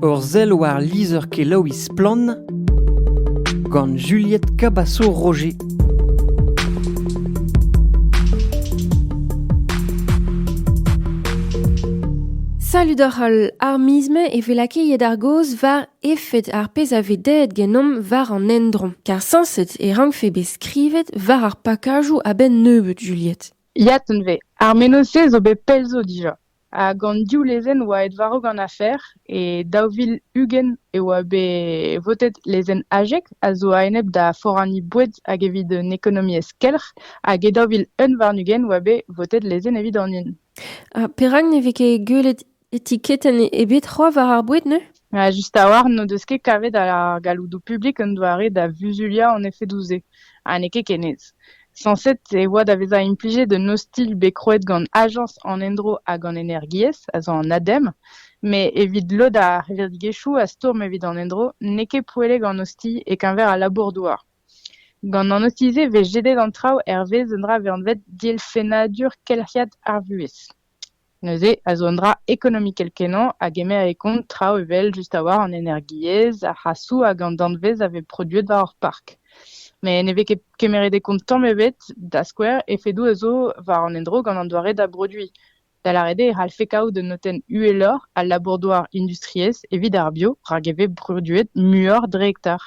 Ur sell war lizher-kelaouiñ Splann! gant Juliette Cabaço-Roger. Salud oc'h al ar miz me e vez lakaet ar gaoz war efed ar pezh a vez daet genomp war an endro. Kar sañset e rankfe bet skrivet war ar pakajoù a-benn nebeut, Juliette. Ya, tenn vez. Ar mennozh-se zo bet pell zo dija. Hag an div lezenn a oa aet war-raok an afer. E daou vil ugent e oa bet votet lezenn Ajeg, a zo a-enep da foraniñ boued hag evit un ekonomiezh kelc'h. Hag e daou vil unv warn-ugent e oa bet votet lezenn evit an hun. Ha perak ne vez ket gwelet etiketenn ebet c'hoazh war ar boued neuze ? Just a-walc'h n'o deus ket kavet ar galloudoù publik un doare da vuzuliañ an efedoù-se, ha n'eo ket ken aes. Sañset e oa da vezañ implijet un ostilh bet krouet gant Ajañs an Endro hag an Energiezh, a zo an ADEM, met evit lod ar c'hevredigezhioù a stourm evit an endro n'eo ket poellek an ostilh e-keñver al labour-douar. Gant an ostilh-se e vez jedet an traoù hervez un dra anvet dielfennadur kelc'hiad ar vuhez. Neuze a zo un dra ekonomikel-kenañ a gemere kont traoù evel just a-walc'h an energiezh, ar c'hasoù hag an danvez a vez produet war ar park. Met ne vez ket kemeret e kont tamm ebet, da skouer efedoù a zo war an endro gant an doare da broduiñ. Da lâret eo e c'hallfe kaout un notenn uheloc'h al labour-douar industriel. evit ar bio rak e vez produet muioc'h dre hektar.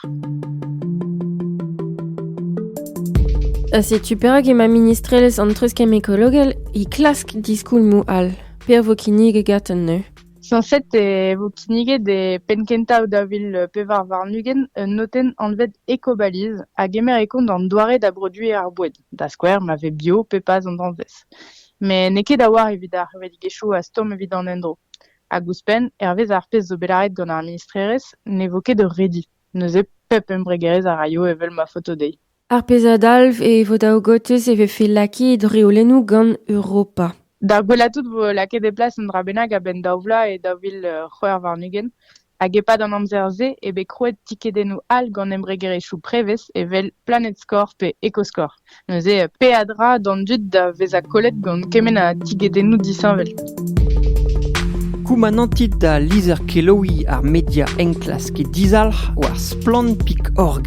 Setu perak emañ ministrelezh an treuzkemm ekologel e klask diskoulmoù all. Per vo kinniget gaten neuze. Sañset e vo kinniget e penn-kentañ da vil pevar warn-ugent un notenn anvet Ecobaliz a gemer e kont an doare da broduiñ ar boued, da skouer ma vez bio pe pas an danvez. Met n'eo ket a-walc'h evit ar revedegezhioù a stourm evit an endro. Hag ouzhpenn, hervez ar pezh zo bet laret gant ar ministrerez, ne vo ket ur redi. Neuze pep embregerezh a raio evel ma faoto dezhi. Ar pezh a dalv e vo daou gotez e vefe lakaet reolennoù gant Europa. D'ar gwelañ tout vo lakaet e plas un dra bennak a-benn daou vloaz e daou vil c'hwec'h warn-ugent. Hag e-pad an amzer-se eo bet krouet tikedennoù all gant embregerezhioù prevez evel PlanetScore pe EcoScore. Neuze peadra d'an dud da vezañ kollet gant kement a tigedennoù disheñvel. Koumanantit da lizher-kelaouiñ ar media enklask e dizalc'h war splann.org.